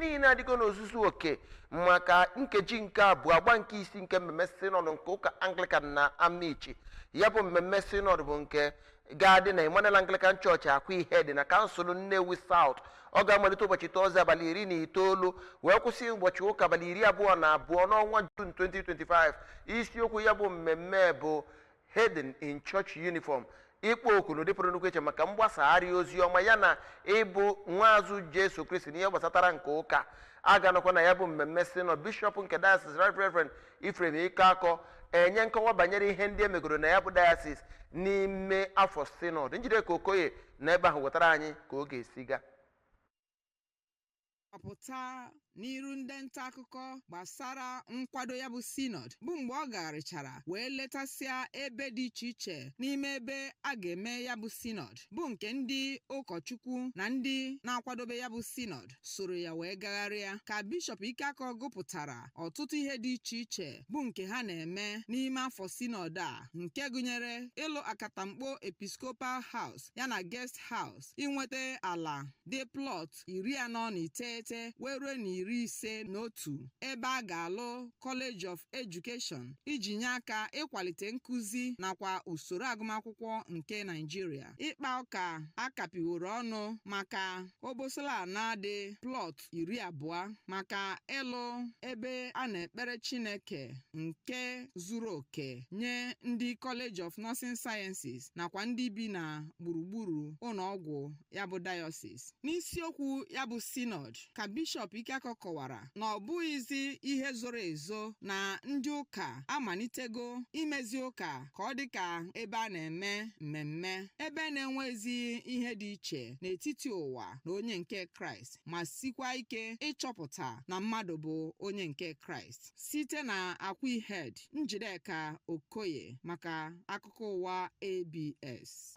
niile adịgo n'ozuzu oke maka nkeji nke abụọ agba nke isi nke mmemme sinọd nke ụka anglikan na amichi ya bụ mmemme sinọd bụ nke ga-adị na emmanuel anglikan chọọchị akwaihedi na kansụl nnewi saut ọ ga-amalite ụbọchị tọzde abalị iri na itoolu wee kwụsị ụbọchị ụka abalị iri abụọ na abụọ n'ọnwa jun 2025 isiokwu ya bụ mmemme bụ heathen in church uniform ịkpọ oku n'ụdị pụrụ nnukwu iche maka mgbasagharị ozi ọma ya na ịbụ nwaazụ jesu kristi n'ihe gbasatara nke ụka a ga-anọkwa na ya bụ mmemme sinọd bishọp nke diocese right reverend ephraim ikeakọ enye nkọwa banyere ihe ndị e megoro na ya bụ diocese n'ime afọ sinọd njideka okoye nọ ebe ahụ wetara anyị ka ọ ga-esi gaa ọ pụta n'iru ndị nta akụkọ gbasara nkwado ya bụ sinọd bụ mgbe ọ gagharịchara wee letasịa ebe dị iche iche n'ime ebe a ga-eme ya bụ sinọd bụ nke ndị ụkọchukwu na ndị na-akwadobe ya bụ sinọd soro ya wee gagharịa ka bishọp Ikeakọ gụpụtara ọtụtụ ihe dị iche iche bụ nke ha na-eme n'ime afọ sinọd a nke gụnyere ịlụ akatamkpo episcopal house yana guest house inweta ala dị plọt iri anọ na iteghete wee ruo na iri ise na otu ebe a ga-alụ College of Education iji nye aka ịkwalite nkụzi nakwa usoro agụmakwụkwọ nke Naijiria. Ịkpa ụka a kapịworo ọnụ maka obosala ana dị plọt iri abụọ maka ịlụ ebe a na-ekpere Chineke nke zuru oke nye ndị College of Nursing Sciences nakwa ndị bi na gburugburu ụlọọgwụ ya bụ dayọsis n'isiokwu ya bụ sinọd ka bishọp Ikeakọ kọwara na ọ bụghịzi ihe zoro ezo na ndị ụka amalitego imezi ụka ka ọ dị ka ebe a na-eme mmemme ebe na-enwezi ihe dị iche n'etiti ụwa na onye nke kraịst ma sikwa ike ịchọpụta na mmadụ bụ onye nke kraịst site na akwaihedi njideka okoye maka akụkọ ụwa abs